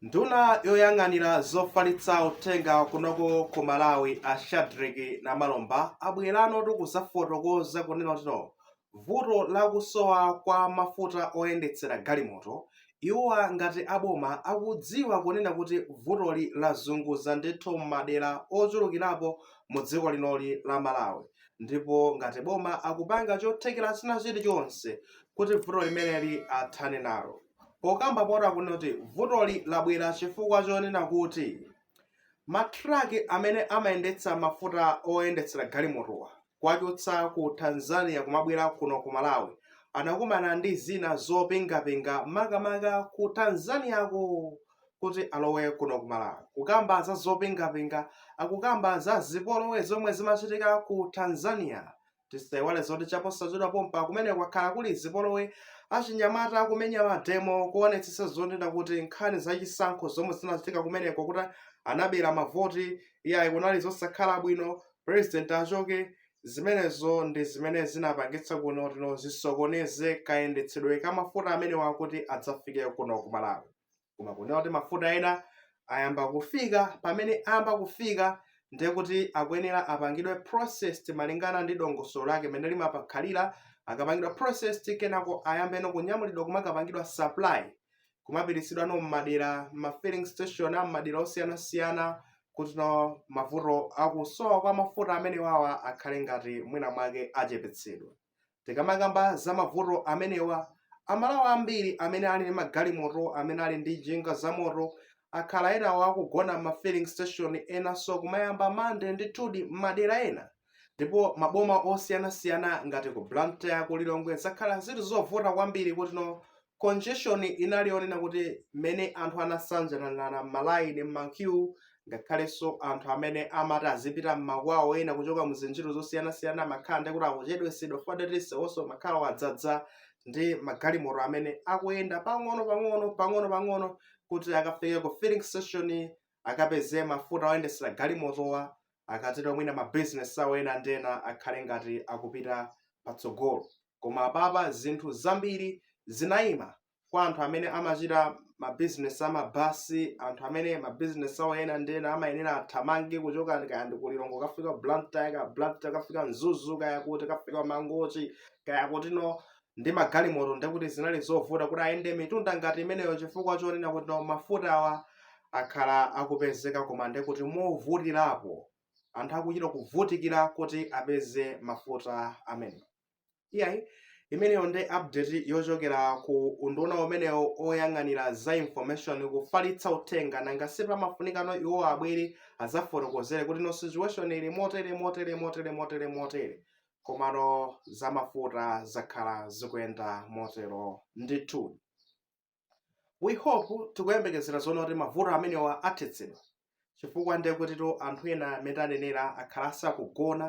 Nduna yoyang'anira zofalitsa uthenga kunoko ku Malawi a Shadreck Namalomba abweranotu kuzafotokoza kunena kutino vuto la kusowa kwa mafuta oyendetsera galimoto iwowa ngati a boma akudziwa kunena kuti vutoli lazunguza ndithu m'madera ochulukirapo mu dziko linoli la Malawi ndipo ngati boma akupanga chothekera china chilichonse kuti vuto limeneli athane nalo. pokambapo akunena kuti vutoli labwera chifukwa chonena kuti matraki amene amayendetsa mafuta oyendetsera galimotowa kuwachotsa ku tanzania kumabwera kuno ku malawi anakumana ndi zina zopingapinga makamaka ku tanzaniako kuti alowe kuno ku malawi kukamba za zopingapinga akukamba za zipolowe zomwe zimachitika ku tanzania Tisaiwale zoti chaposachedwa pompa kumeneko kwakhala kuli zipolowe, achinyamata akumenya mademo kuonetsetsa zonena kuti nkhani za chisankho zomwe zinachitika kumeneko kuti anabera mavoti, iyayi kunali zosakhala bwino, pulezidenti achoke. Zimenezo ndi zimene zinapangitsa kunena kutino zisokoneze kayendetsedwe ka mafuta amenewa kuti adzafike kuno ku Malawi. koma kunena kuti mafuta ena ayamba kufika pamene ayamba kufika ndiye kuti akuyenera apangidwe processed malingana ndi dongosolo lake limene limapakhalira akapangidwa processed kenako ayambenso kunyamulidwa kumakapangidwa supply kumapititsidwano m'madera ma filling station a m'madera osiyanasiyana kutino mavuto akusowa kwa mafuta amenewawa akhale ngati mwina mwake achepetsedwa Tikamakamba za mavuto amenewa, Amalawi ambiri amene ali ndi magalimoto, amene ali ndi njinga zamoto, akhala ena akugona m'ma filling station enanso kumayamba mandede ndithudi m'madera ena. Ndipo maboma osiyanasiyana ngati ku Blantyre, ku Lilongwe zakhala zili zovuta kwambiri kutino Congestion inali yonena kuti mmene anthu anasanjananirana m'malayini, m'makyuu, ngakhalenso anthu amene amati azipita m'makwawo, ena kuchoka mu zintchito zosiyanasiyana amakhala ndiye kuti akuchedwetsedwa chifukwa ndiye kuti nsewunso umakhala wadzadza ndi magalimoto amene akuyenda pang'onopang'ono, pang'onopang'ono kuti akafike ku filling station akapeze mafuta oyendetsera galimotowa akatero mwina ma business awo ena ndi ena akhale ngati akupita patsogolo koma apapa zinthu zambiri zinaima kwa anthu amene amachita ma business amabasi anthu amene ma business awo ena ndi ena amayenera athamange kuchoka kaya ndi ku Lilongwe kafika Blantyre kaya Blantyre kafika Mzuzu kaya kuti kafika Mangochi kaya kutino ndi magalimoto ndekuti zinali zovuta kuti ayende mitunda ngati imeneyo chifukwa chonena kuti nawo mafutawa akhala akupezeka koma ndekuti movutirapo anthu akuchita kuvutikira kuti apeze mafuta amene iyayi imeneyo ndi update yochokera ku unduna umenewo oyang'anira za information kufalitsa uthenga nanga si pamafunikano iwo abwere azafotokozere kuti no situation ili motere motere komano za mafuta zakhala zikuyenda motero ndithu we hope tikuyembekezera zoona kuti mavuto amenewa athetsedwa chifukwa ndekutitu anthu ena mmene tanenera akhala asakugona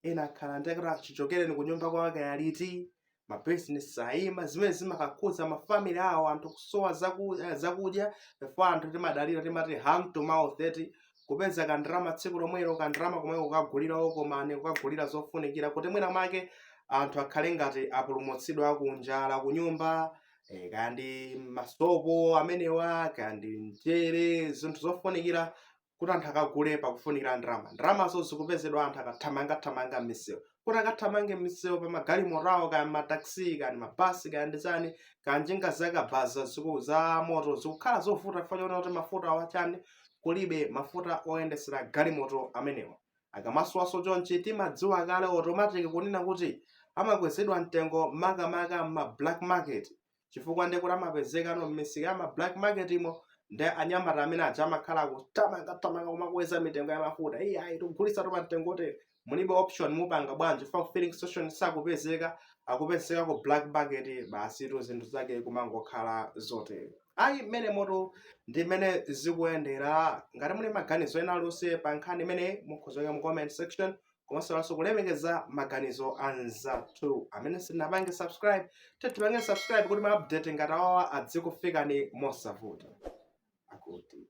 ena akhala ndekuti chichokereni ku nyumba kwake aliti mabizinesi ayima zimene zimakakhuza mafamily awo anthu kusowa zakudya chifukwa anthu timadalira timati hand to mouth eti kupeza kandrama tsiku lomwelo kandrama komweko kukagulira walkman kukagulira zofunikira kuti mwina mwake anthu akhale ngati apulumutsidwa kunjala kunyumba eh, kaya ndi masopo amenewa kaya ndi mchere zinthu zofunikira kuti anthu akagule pakufunikira ndalama ndalamazo zikupezedwa anthu akathamangathamanga m'misewu kuti akathamange m'misewu pa magalimoto awo kaya mataxi kaya mabasi kaya ndi chani kaya njinga zakabaza ziku- za moto zikukhala zovuta chifukwa chonena kuti mafutawa chani kulibe mafuta oyendesera galimoto amenewa akamasowaso chonchi timadziwa kale automatic kunena kuti amakwezedwa mtengo makamaka m'ma black market chifukwa ndekuti amapezekano m'misika ya ma black marketmo ndi anyamata amene aja amakhala kuthamangathamanga kumakweza mitengo ya mafuta iyayi tikugulitsa pa mtengo wotere mulibe option mupanga bwanji pa filling station sakupezeka akupezeka ku black market basitu zinthu zake kumangokhala zotere ayi mmenemotu ndi mmene zikuyendera ngati muli ndi maganizo ena alionse pa nkhani imeneyi mukhoza kuika mu comment section komanso kulemekeza maganizo a anzathu amene simunapange subscribe tatipangeni subscribe kuti ma update ngati awawa adzikufikani mosavuta akuti